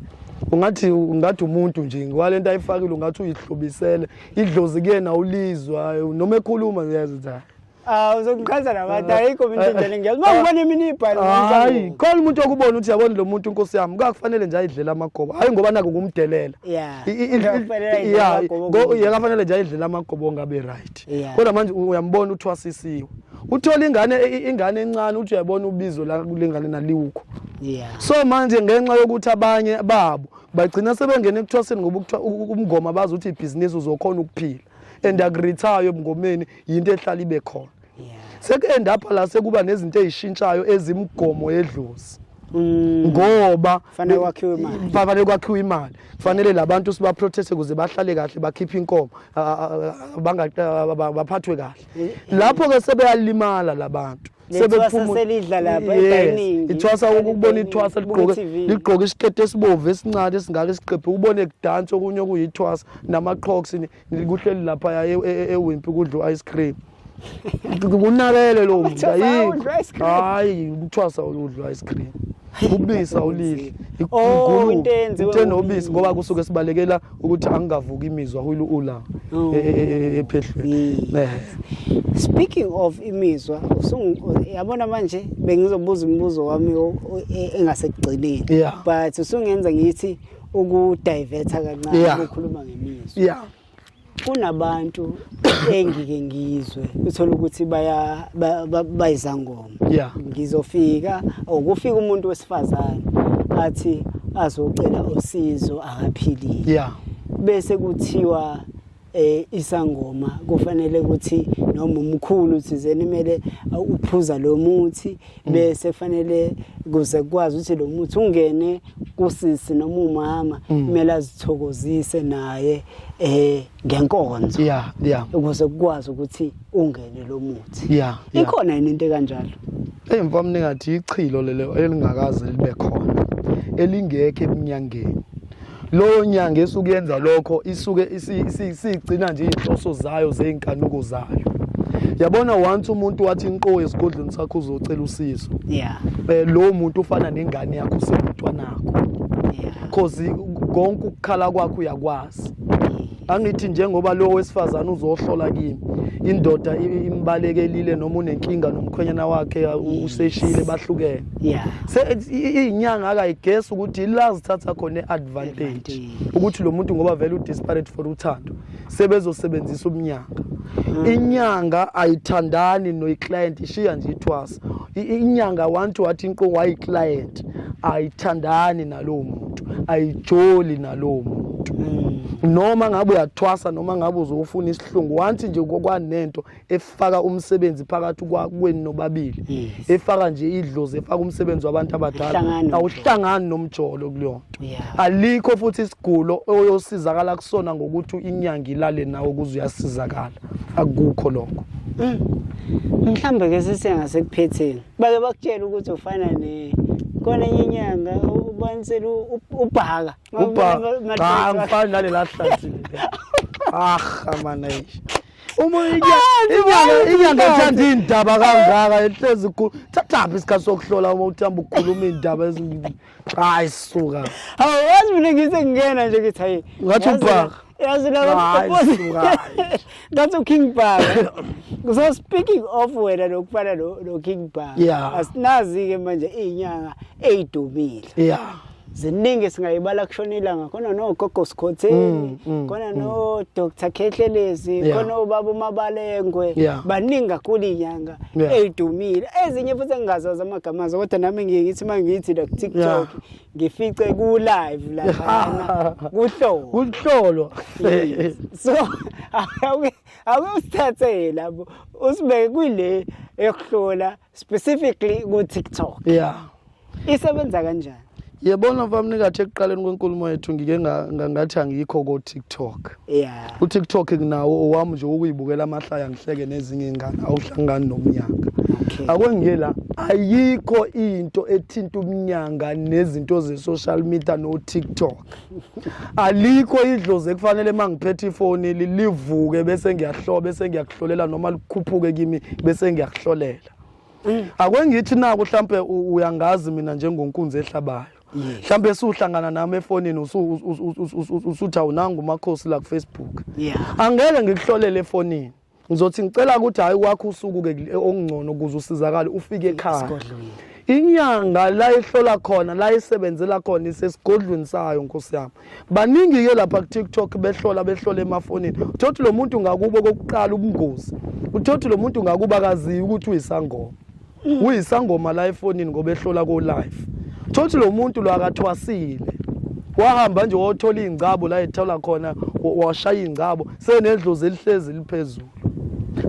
Ungathi ungathi umuntu nje kwalento ayifakile ungathi uyihlobisele idlozi kuyena ulizwa noma ekhuluma uyazi ukuthi hayi Ah uzokuqhaza nabantu ah, ayikho mina indlela ah, ngiyazi. Mawubona ah, imini ibhali. Hayi, khona umuntu okubona ukuthi yabona lo muntu inkosi yami kufanele nje ayidlela amagobo. Hayi ngoba naku kumdelela. Yeah. Yeah. Ngo yakafanele nje ayidlela amagobo ngabe right. Kodwa manje uyambona uthwasisiwe. Uthola ingane e, e, ingane encane uthi uyabona ubizo la kulengane naliwukho. Yeah. So manje ngenxa yokuthi abanye babo bagcina sebengena ekuthwaseni ngoba ukuthiwa umngoma bazi ukuthi ibhizinisi uzokhona ukuphila and akurithayo ebungomeni yinto ehlala ibe khona seku-end up la sekuba nezinto ey'shintshayo ezimgomo yedlozi Mm. ngoba fanele kwakhiwe imali fanele kwakhiwe imali kufanele labantu siba protest ukuze bahlale kahle bakhiphe inkomo baphathwe kahle eh, eh. lapho ke sebeyalimala labantu sebephumulidla lapha edining ithwasa ukubona ithwasa ligqoke ligqoke isikete esibovu esincane esingaka isiqephe ubone kudansa okunye okuyithwasa namaqhoks kuhleli lapha yaye e, e, ewimpi kudla u-ice cream kunakele lo mntu hayi hayi uthwasa oludla u-ice cream ubisi awulidli oh, into nobisi ngoba kusuke sibalekela ukuthi angingavuki imizwa hulu ula oh. e, e, e, ephehlweni speaking of imizwa yabona manje bengizobuza imibuzo wami engasekugcineni but usungenza ngithi ukudivertha kancane ukukhuluma ngemizwa yeah kunabantu engike ngizwe uthola ukuthi baya bayizangoma yeah. ngizofika okufika umuntu wesifazane athi azocela usizo akaphilile yeah. bese kuthiwa eh isangoma kufanele ukuthi noma umkhulu thizeni kumele uphuza lo muthi mm. bese kufanele kuze kwazi ukuthi lo muthi ungene kusisi noma umama mm. kumele azithokozise naye eh ngenkonzo yeah yeah ukuze kukwazi ukuthi ungene lo muthi yeah ikhona yini into kanjalo hey mfamni ngathi ichilo lelo elingakaze libe khona elingekho eminyangeni loyo nyanga esuke yenza lokho isuke isigcina nje izinhloso zayo zezinkanuko zayo yabona once umuntu wathi inqo esigodlweni sakho uzocela usizo yeah eh lo muntu ufana nengane yakho usemntwanakho yeah cause konke ukukhala kwakho uyakwazi Angithi njengoba lo wesifazane uzohlola kimi indoda imbalekelile noma unenkinga nomkhwenyana wakhe useshile bahlukene. Yeah. Se inyanga akayigesi ukuthi la zithatha khona advantage ukuthi lo muntu ngoba vele u disparate for uthando sebezosebenzisa umnyanga. Mm. Inyanga ayithandani no client ishiya nje ithwasa. inyanga wantu wathi inqo wayiclient ayithandani nalowo muntu ayijoli nalowo muntu mm. noma ngabe uyathwasa noma ngabe uzofuna isihlungu wanthi nje kwanento efaka umsebenzi phakathi kwakweni nobabili efaka nje idlozi efaka umsebenzi wabantu abadala awuhlangani nomjolo kulona Yeah. Alikho futhi isigulo oyosizakala kusona ngokuthi inyanga ilale nawe ukuze uyasizakala. Akukho lokho. Mm. Mhlambe ke sisenga sekuphetheni. Bake bakutshela ukuthi ufana ne kona inyanga ubanisela ubhaka. Ubhaka. Cha ngifana nale lahlathi. Ah, amana ish. uma ah, inyanga ethanda iy'ndaba kangaka ehlezi ikhulu thathaphi isikhathi sokuhlola uma uthamba ukukhuluma iy'ndaba Hayi suka. Hawu wazi mina ngise ngingena nje ngithi hayi. Ngathi ubhaka. Yazi la bakupopoza. Ngathi uKing Bhaka. So speaking of wena lokufana lo lo King Bhaka. Yeah. Asinazi ke manje izinyanga ezidumile. Yeah. ziningi singayibala kushona ilanga khona nogogo sikhotheni mm, mm, khona mm. no Dr Khehlelezi khona ubaba umabalengwe baningi kakhulu inyanga Yeah. eyidumile ezinye futhi engingazazi amagama azo kodwa nami ngiye ngithi uma ngithi la ku-tiktok Yeah. ngifice ku-live laphana kuhloko kuhlolo Yes. so awuke awuke usithathe labo usibeke kule yokuhlola specifically ku-tiktok yeah isebenza kanjani yebona mfamnikathi ekuqaleni kwenkulumo yethu ngike ngathi angikho ko-tiktok yeah. utiktok nginawo owami nje wokuyibukela amahlaya ngihleke nezinye ingane awuhlangani nomnyanga okay. akwengiye la ayikho into ethinta umnyanga nezinto ze-social media no-tiktok alikho idlozi ekufanele uma ngiphethe ifoni lilivuke bese ngiyahlola bese ngiyakuhlolela noma likhuphuke kimi bese ngiyakuhlolela mm. akwengithi naku mhlampe uyangazi mina njengonkunzi ehlabayo mhlambe usuhlangana nami efonini usuthi awunanga umakhosi la kufacebook angeke ngikuhlolele efonini ngizothi ngicela ukuthi hhayi kwakho usuku-ke okungcono ukuze usizakale ufike ekhaya inyanga la ihlola khona la isebenzela khona isesigodlweni sayo nkosi yami baningi-ke lapha ku-tiktok behlola behlola emafonini uthothi lo muntu ngakubo kokuqala ubungozi uthothi lo muntu ngakuba akaziyi ukuthi uyisangoma uyisangoma la efonini ngoba ehlola ko-life thothi lo muntu lo akathwasile wahamba nje wothola iy'ngcabo la ethola khona washaya iy'ngcabo senedlozi elihlezi liphezulu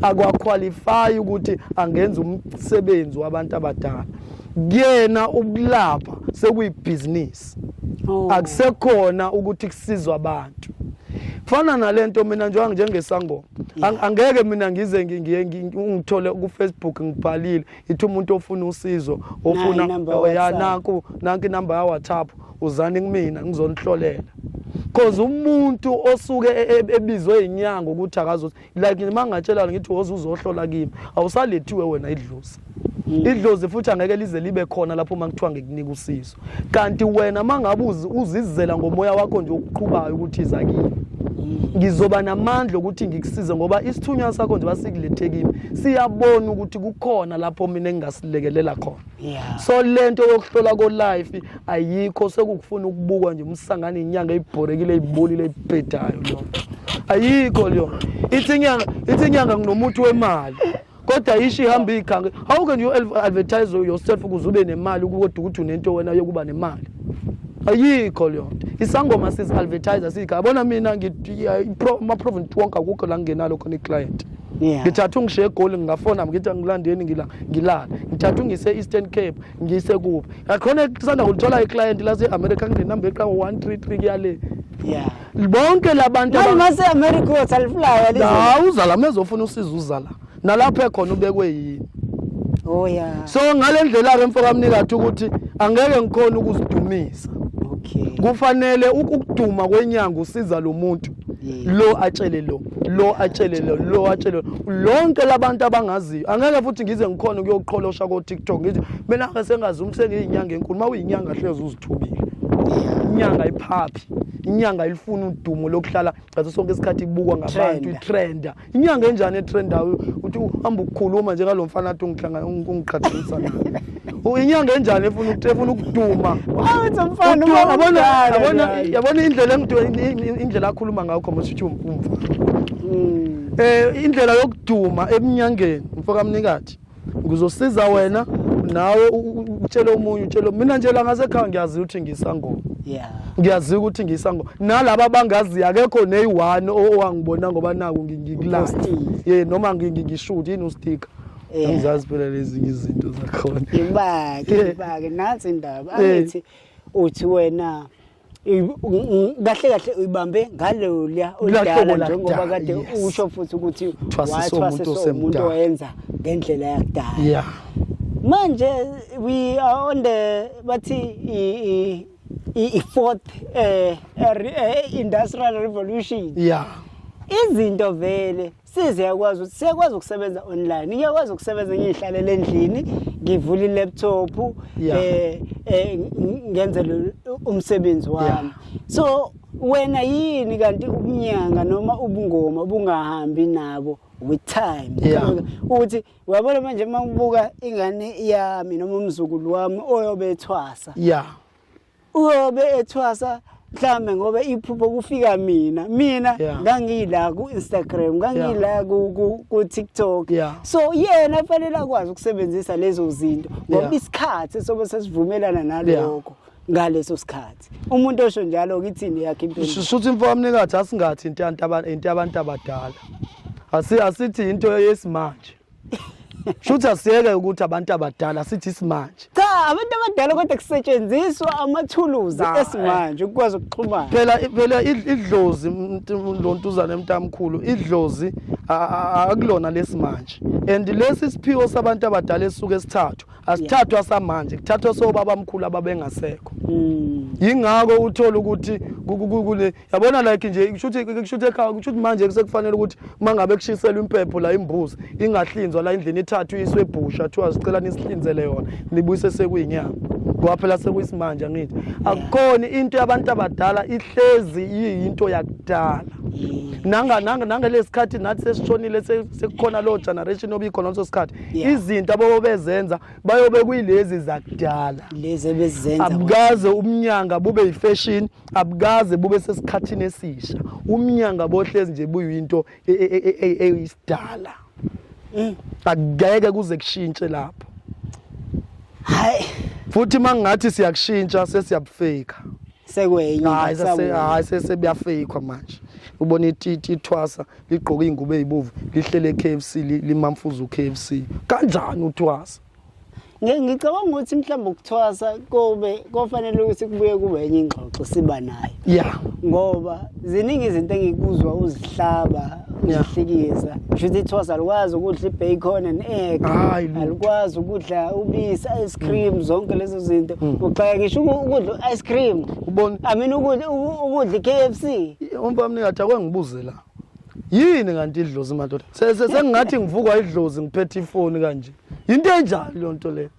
akwakhwalifayi ukuthi angenza umsebenzi wabantu abadala kuyena ukulapha sekuyibhizinisi oh. akusekhona ukuthi kusizwa abantu fana nalento mina njengoba njengesangoma angeke mina ngize ngiye ngithole ku Facebook ngibhalile ithi umuntu ofuna usizo ofuna ya nanku nanki number ya WhatsApp uzani kumina ngizonihlolela cause umuntu osuke e, e, ebizwe inyanga ukuthi akazothi like nima ngatshelana ngithi woze uzohlola kimi awusalethiwe wena idlozi mm. idlozi futhi angeke lize libe khona lapho uma kuthiwa ngikunika usizo kanti wena uma ngabe uzizela ngomoya wakho nje okuqhubayo ukuthi iza kimi ngizoba namandla okuthi ngikusize ngoba isithunywa sakho nje basikulethekile siyabona ukuthi kukhona lapho mina engingasilekelela khona yeah. so le nto yokuhlola kolife ayikho sekukufuna ukubukwa nje umsangane inyanga ibhorekile ibolile ibhedayo loo ayikho leyo ithi inyanga ithi inyanga nginomuthi wemali kodwa ishi ihamba iyikhanga how can you advertise yourself ukuze ube nemali kodwa ukuthi unento wena yokuba nemali ayikho leyo nto isangoma sizi-advertise siyikhaya bona mina ama-province wonke akukho la ngingenalo khona iclient Yeah. ngithatha ungishiye egoli ngingafona ngithi angilandeni ngila ngilala ngithatha ungise eastern cape ngiyise kuphi yakhona kusanda kulithola iclient lase-america nginenumber eqango 133 kuyale Yeah. bonke labantu Manje aba- mase America uyothi alifulayo alizo. la uzala mezofuna usiza uzala nalapho ekhona ubekwe yini Oh yeah. so ngale ndlela-ke mfokamnikathi ukuthi angeke ngikhona ukuzidumisa Okay. kufanele ukuduma kwenyanga usiza lo muntu lo atshele lo lo atshele lo lo atshele lonke labantu abangaziyo angeke futhi ngize ngikhona ukuyoqholosha ko TikTok ngithi mina ke sengazi umsenge inyanga enkulu mawuyinyanga hlezi uzithubile inyanga iphaphi inyanga ilifuna udumo lokuhlala ngaso sonke isikhathi ibukwa ngabantu itrenda inyanga enjani etrendayo uthi uhamba ukukhuluma njengalo mfana athi ungiqhathanisa naye inyanga enjani efuna efuna ukuduma yabona indlela indlela akhuluma ngayo khoma sithi umfana um indlela yokuduma ebunyangeni mfokamnikathi ngizosiza wena nawe utshele omunye utshele mina nje la ngasekhaya ngiyazi ukuthi ngisangoma yeah ngiyazi ukuthi ngisangoma nalabo abangazi akekho neyi-one owangibona ngoba naku ngikulala ye noma ngishuthi yini usticker eh. angizazi phela lezinye izinto zakhona ibake ibake nansi indaba angithi uthi wena kahle kahle uyibambe ngaloya olidala njengoba kade usho futhi ukuthi wathwasisa umuntu oyenza ngendlela yakudala yeah manje we are on the bathi i-fourth eh, eh, eh, industrial revolution yeah izinto vele Size yakwazi ukuthi siyakwazi ukusebenza online. Ngiyakwazi ukusebenza ngihlalele endlini, ngivule i-laptop Yeah. eh eh ngenze lo- umsebenzi wami. Yeah. So wena yini kanti ubunyanga noma ubungoma bungahambi nabo with time. Yeah. Ukuthi uyabona manje uma ngibuka ingane yami noma umzukulu wami oyobe ethwasa. ya uyobe ethwasa mhlambe ngoba iphupho kufika mina mina yeah. ngangila ku Instagram ngangila yeah. ku, ku, ku TikTok yeah. so yena yeah, fanele akwazi ukusebenzisa lezo zinto ngoba yeah. isikhathi sobe sesivumelana naloko yeah. ngaleso sikhathi umuntu osho njalo kithini yakhe impilo shuthi imfowamnikathi asingathi into abantu abadala asi asithi into yesimanje Shuthi asiyeke ukuthi abantu abadala sithi isimanje. Cha abantu abadala kodwa kusetshenziswa amathuluzi eh. esimanje ukwazi ukuxhumana. Phela phela idlozi lo ntuzane mntamkhulu idlozi akulona lesimanje. And lesi siphiwo sabantu abadala esuke sithathu asithathwa samanje kuthathwa sobaba mkhulu ababengasekho. Hmm. Yingakho uthola ukuthi kule yabona like nje kushuthi kushuthi ekhaya kushuthi manje kusekufanele ukuthi uma ngabe kushiselwa impepho la imbuzi ingahlinzwa la indlini ithathu iswe ebhusha thiwa sicela nisihlinzele yona nibuyise sekuyinyama ngoba phela sekuyisimanje angithi akukhona into yabantu abadala ihlezi yiyinto yakudala nanga nanga nangelesikhathi nathi sesishonile sekukhona lo generation obikhona leso sikhathi izinto abobo bezenza bayobe kuyilezi zakudala lezi ebezenza abukaze umnyanga bube yifashion abukaze bube sesikhathini esisha umnyanga bohlezi nje buyinto e, e, e, eyisidala mm. akugeke kuze kushintshe lapho hayi futhi mangathi siyakushintsha sesiyabufika sekwenye hayi sase hayi sese buyafeyikwa manje ubona ititi ithwasa ligqoka ingubo ezibovu lihlele KFC limamfuza uKFC kanjani uthwasa ngicabanga ukuthi mhlawumbe ukuthwasa kobe kofanele ukuthi kubuye kube enye ingxoxo siba nayo ya ngoba ziningi izinto engikuzwa uzihlaba uzihlekisa kusho ukuthi ithwasa alikwazi ukudla i-bacon and egg alikwazi ukudla ubisi ice cream mm. zonke lezo zinto mm. uxaka ngisho ukudla u-ice cream i mean ukudla i-k f c umpamnika athi akwengibuze la yini kanti idlozi madoda sengingathi ngivukwa idlozi ngiphethe ifoni kanje yinto enjani leyo nto leyo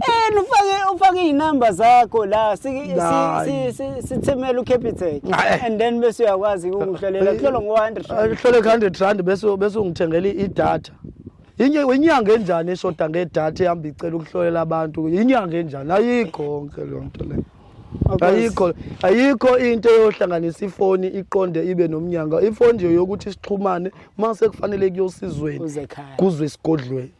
Eh ufake ufake izinamba zakho la sithemela uCapitec and then bese uyakwazi ukuhlolela kuhlolo ngo100 kuhlolo 100 rand bese bese ungithengela idatha Inye inyanga enjani eshoda ngedata ehamba icela ukuhlolela abantu inyanga enjani ayikho konke leyo nto leyo ayikho ayikho into eyohlanganisa ifoni iqonde ibe nomnyanga ifoni nje yokuthi sixhumane uma sekufanele kuyosizweni kuzwe isigodlweni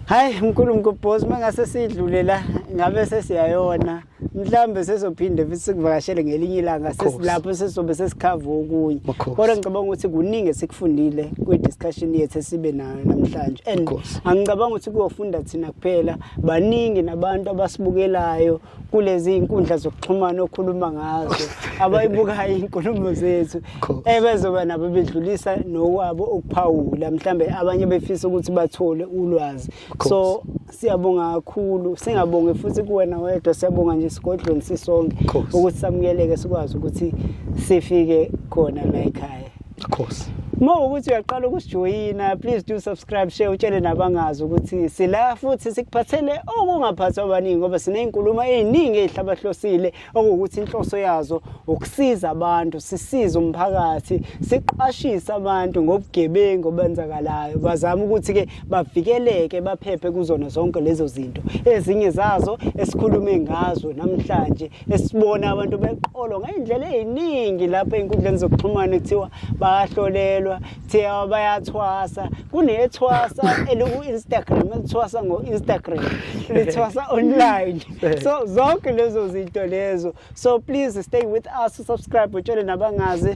hayi mkhulu mkubhosi uma ngase sidlule la ngabe sesiyayona mhlawumbe sesophinde futhi sikuvakashele ngelinye ilanga sesilapho sesobe sesikhava okunye kodwa ngicabanga ukuthi kuningi esikufundile kwi-discussion yethu esibe nayo namhlanje and angicabanga ukuthi kuyofunda thina kuphela baningi nabantu abasibukelayo kulezi inkundla zokuxhumana okhuluma ngazo abayibukayo inkulumo zethu ebezoba eh, nabo bedlulisa nokwabo ukuphawula mhlambe abanye befisa ukuthi bathole ulwazi so siyabonga kakhulu singabonge futhi kuwena wedwa siyabonga nje sigodlweni sisonke ukuthi samukeleke sikwazi ukuthi sifike khona la ekhaya Of course. Uma ukuthi uyaqala ukusijoyina please do subscribe share utshele nabangazi ukuthi sila futhi sikuphathele okungaphathwa abaningi ngoba sinezinkulumo eziningi ezihlabahlosile okuwukuthi inhloso yazo ukusiza abantu sisize umphakathi siqwashise abantu ngobugebengu obenzakalayo bazama ukuthi ke bavikeleke baphephe kuzona zonke lezo zinto ezinye zazo esikhulume ngazo namhlanje esibona abantu beqolwa ngey'ndlela ey'ningi lapho ey'nkundleni zokuxhumana kuthiwa bayahlolelwa kuthiwa bayathwasa kunethwasa eliku-instagram elithwasa ngo-instagram lithwasa online so zonke lezo zinto lezo so please stay with us subscribe utshele nabangazi